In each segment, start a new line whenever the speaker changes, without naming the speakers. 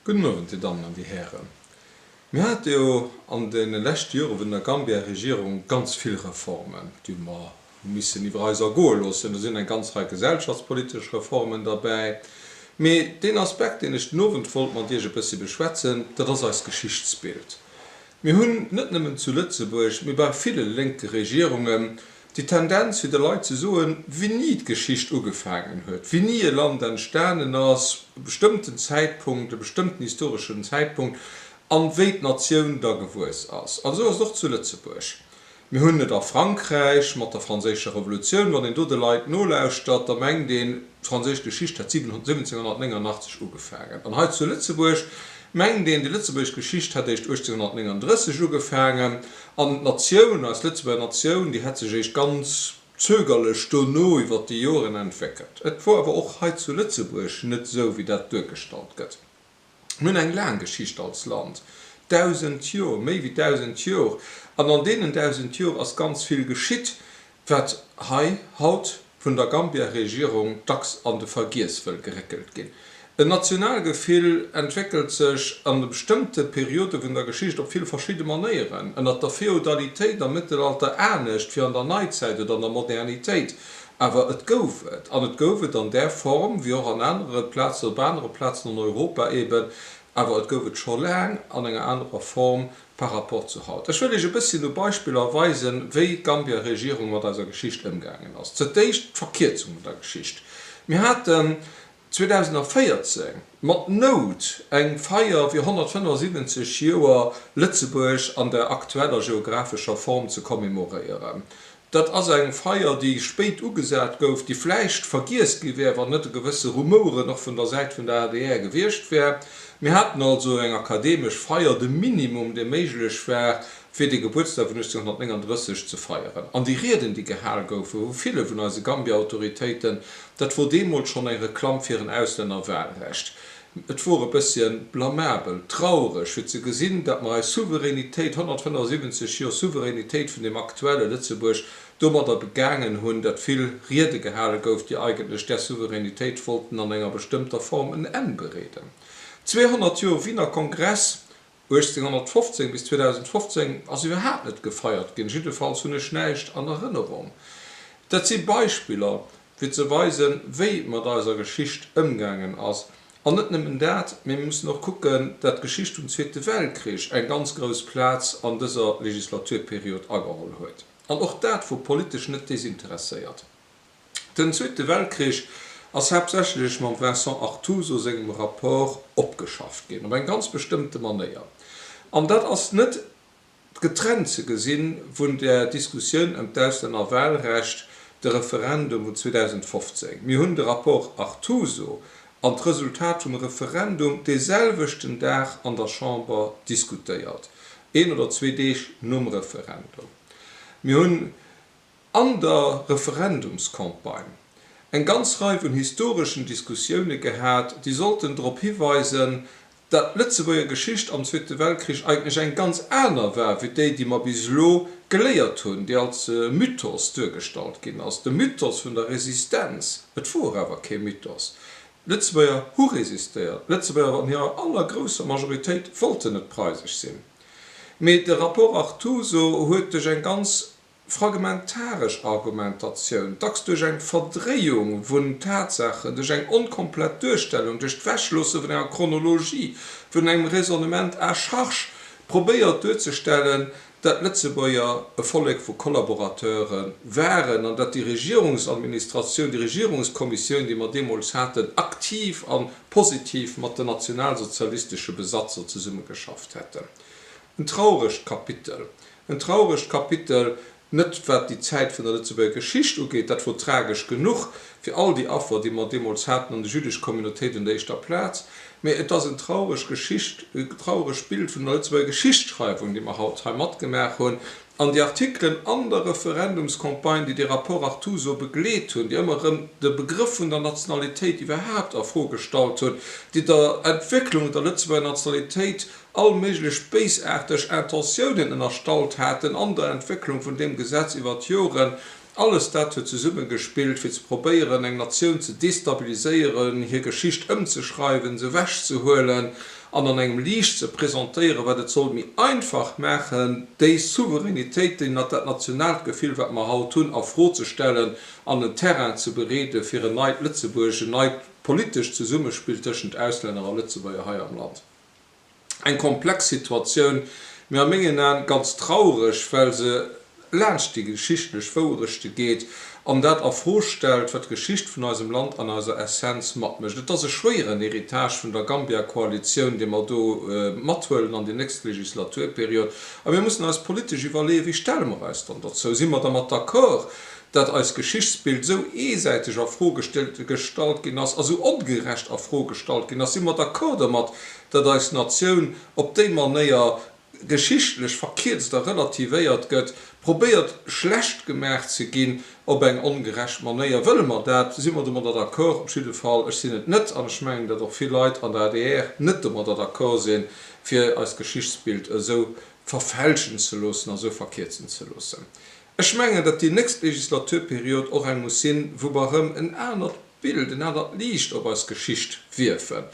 Gudden Owend, Dir Dammen an Dir Hären. Mir hate jo an de leschte Jore vun der Gambia-Regierung ganz vill Reformen, déi mer hu missen iwwer eis ergoe loossen. Do sinn eng ganz Rei gesellschaftspolitesch Reformen derbäi. Mee deen Aspekt, deen ech den Owend wollt mat Iech e bëssi beschwätzen, dat ass eist Geschichtsbild. Mir hunn net nëmmen zu Lëtzebuerg, mee bei ville lénke Regierungen, déi Tendenz fir de Leit ze soen, wéini d'Geschicht ugefaangen huet, wéini e Land entstanen ass, e bestëmmten Zäitpunkt, e bestëmmten historeschen Zäitpunkt, a wéi d'Natioun da gewuess ass. An esou ass et och zu Lëtzebuerg. Mir hunn et a Frankräich mat der Franséischer Revolutioun. Wann een do de Leit nolauschtert, da mengt een, d'franséisch Geschicht hätt 1789 ugefaangen. An hei zu Lëtzebuerg mengt een, déi lëtzebuergesch Geschicht hätt éischt 1839 ugefaangen. An d'Natioun, eis Lëtzebuerger Natioun, déi hätt sech eréischt ganz zögerlech dono iwwer déi Joren entwéckelt. Et wor awer och hei zu Lëtzebuerg net esou, wéi dat duergestallt gëtt. Mir hunn eng laang Geschicht als Land, dausend Jor, méi wéi dausend Jor, an an deenen dausend Jor ass ganz vill geschitt, Wat hei haut vun der Gambia-Regierung dacks an de Vergiess wëll geréckelt ginn. En Nationalgefill entwéckelt sech an de bestëmmte Periode vun der Geschicht op vill verschidde Manéieren, ënnert der Feodalitéit, am Mëttelalter anescht wéi an der Neizäit oder an der Modernitéit, awer et gouf et. An et gouf et an där Form, wéi och an anere Plazen, op anere Plazen an Europa eben, awer et gouf et scho laang an enger anerer Form par rapport zu haut. Ech wëll Iech e bësschen u Beispiller weisen, wéi d'Gambier Regierung mat eiser Geschicht ëmgaangen ass. Zur d'éischt d'Verkierzung vun der Geschicht. Mir haten 2014 mat Nout eng Feier fir 175 Joer Lëtzebuerg an der aktueller geographescher Form ze commemoréieren. Dat ass eng Feier, déi spéit ugesat gouf, déi vläicht vergiess gi wär, wann net e gewësse Rumoure och vun der Säit vun der adr gewiescht wär. Mir haten also eng akademesch Feier, de Minimum, dee méiglech war, fir dee Gebuertsdag vun 1839 ze feieren. An déi Rieden, déi gehal goufen vu ville vun eise Gambia-Autoritéiten, dat wor deemools schonn eng Reklamm fir en Auslännerwahlrecht. Et wor e bësschen blamabel, traureg fir ze gesinn, datt mer eis Souveränitéit, 175 Joer Souveränitéit vun deem aktuelle Lëtzebuerg, domadder begaangen hunn, datt vill Riede gehale gouf, déi eigentlech där Souveränitéit wollten an enger bestëmmter Form en Enn bereeden. 200 Joer Wiener Kongress, 1815 bis 2015 ass iwwerhaapt net gefeiert ginn, jiddefalls hunn ech näischt an Erënnerung. Dat si Beispiller, fir ze weisen, wéi mat eiser Geschicht ëmgaangen ass. An net nëmmen dat, mä mir mussen och kucken, dat d'Geschicht vum Zweete Weltkrich eng ganz grouss Plaz an dëser Legislaturperiod ageholl huet, an och dat vu politesch net desinteresséiert. Den Zweete Weltkrich ass haaptsächlech mam Vincent Artuso sengem Rapport opgeschafft ginn, op eng ganz bestëmmte Manéier. An dat ass net getrennt ze gesinn vun der Diskussioun ëm d'Auslännerwahlrecht, de Referendum vun 2015. Mir hunn de Rapport Artuso an d'Resultat vum Referendum dee selwechten Dag an der Chamber diskutéiert, een oder zwee Deeg nom Referendum. Mir hunn. An der Referendumscampagne eng ganz Rei vun historeschen Diskussioune gehat, déi sollten drop hiweisen, datt d'Lëtzebuerger Geschicht am Zweete Weltkrich eigentlech eng ganz aner war wéi déi, déi mer bis elo geléiert hunn, déi als Mythos duergestallt ginn ass, de Mythos vun der Resistenz. Et wor awer kee Mythos. D'Lëtzebuerger hu resistéiert. D'Lëtzebuerger an hirer allergrousser Majoritéit wollten net preisesch sinn. Mee de Rapport Artuso huet duerch eng ganz. Fragmentaresch Argumentatioun, dacks duerch eng Verdréiung vun Tatsaachen, duerch eng onkomplett Duerstellung, duerch d'Wechloosse vun enger Chronologie, vun engem Raisonnement à charge, probéiert duerzestellen, datt d'Lëtzebuerger e Vollek vu Kollaborateure waren an datt déi Regierungsadministratioun, déi Regierungskommissioun, déi mer deemools haten, aktiv a positiv mat den nationalsozialistesche Besatzer zesummegeschafft hätten. En trauregt Kapitel. En trauregt Kapitel, net wat déi Zäit vun der Lëtzebuerger Geschicht ugeet, dat wor tragesch genuch, fir all déi Affer, déi mer deemools haten, an déi jüddesch Communautéit un der éischter Plaz, mä et ass en traureg Geschicht, e trauregt Bild vun der Lëtzebuerger Geschichtsschreiwung, déi mer haut hei matgemaach hunn. An déi Artikelen an der Referendumscampagne, déi de Rapport Artuso begleet hunn, déi ëmmer erëm de Begrëff vun der Nationalitéit iwwerhaapt a Fro gestallt hunn, déi der Entwécklung der Lëtzebuerger Nationalitéit all méiglech béisaarteg Intentiounen ënnerstallt haten an der Entwécklung vun deem Gesetz iwwer d'Joren, alles dat huet zesummegespillt, fir ze probéieren, eng Natioun ze destabiliséieren, hir Geschicht ëmzeschreiwen, se ewechzehuelen an an engem Liicht ze presentéieren, wat et sollt méi einfach maachen, déi Souveränitéit, déi, dat nationaalt Gefill, wat mer haut hunn, a Fro ze stellen an en Terrain ze bereeden, fir en neit Lëtzebuerg, en neit politescht Zesummespill tëschent Auslänner a Lëtzebuerger hei am Land. Eng komplex Situatioun, mee a mengen Aan ganz traureg, well se laanscht déi geschichtlech Wouerechte geet an dat a Fro stellt, wat d'Geschicht vun eisem Land an eiser Essenz matmécht. Et ass e schwéieren Héritage vun der Gambia-Koalitioun, dee mer do mathuelen an déi nächst Legislaturperiod. A mir mussen eis politesch iwwerleeën, Wéi stelle mer eis dann dozou? Si mer dermat d'accord, datt eist Geschichtsbild esou eesäiteg a Fro gestallt ginn ass a esou ongerecht a Fro gestallt ginn ass, si mer d'accord domat, datt eis Natioun op déi Manéier geschichtlech verkierzt a relativéiert gëtt, probéiert schlecht gemaach ze ginn op eng ongerecht Manéier. Wëlle mer dat? Si mer domadder d'accord? Op jidde Fall, ech sinn et net an ech mengen, datt och vill Leit an der adr net domadder d'accord sinn, fir eist Geschichtsbild esou verfälschen ze loossen a esou verkierzen ze loossen. Ech mengen, datt déi nächst Legislaturperiod och eng muss sinn, wou mer erëm en anert Bild, en anert Liicht op eis Geschicht wierfen,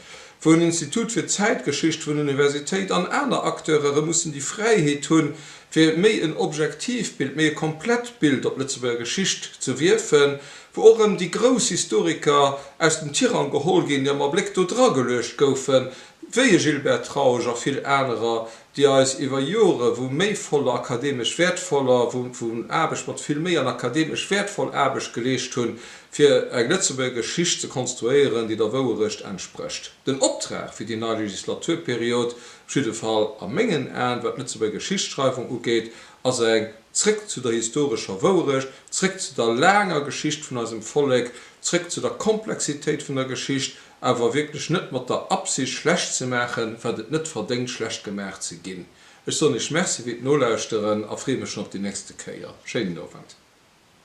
wou en Institut fir Zäitgeschicht vun Universitéit an aner Acteure erëm mussen déi Fräiheet hunn, fir méi en objektiivt Bild, méi e komplett Bild op d'Lëtzebuerger Geschicht ze wierfen, wou och erëm déi grouss Historiker aus dem Tirang geholl ginn, déi am Abléck do drageluecht goufen, wéi e Gilbert Trausch a vill anerer. déi eis iwwer Jore wou méi voller akademesch wäertvoller, wou wou Aarbecht mat vill Méi an akademesch wäertvoll Aarbecht geleescht hunn, fir eng Lëtzebuerger Geschicht ze konstruéieren, déi der Wouerecht entsprécht. Den Optrag fir déi nei Legislaturperiod, op jidde Fall a mengen Aen, wat d'Lëtzebuerger Geschichtsschreiwung ugeet, ass eng Zréck zu der historescher Wouerecht, zréck zu der laanger Geschicht vun eisem Vollek, zréck zu der Komplexitéit vun der Geschicht, awer wierklech net mat der Absicht schlecht ze maachen, wat et net verdéngt schlecht gemaach ze ginn. Ech soen Iech Merci fir d'Nolauschteren a freeë mech schonn op déi nächste Kéier. Schéinen Owend.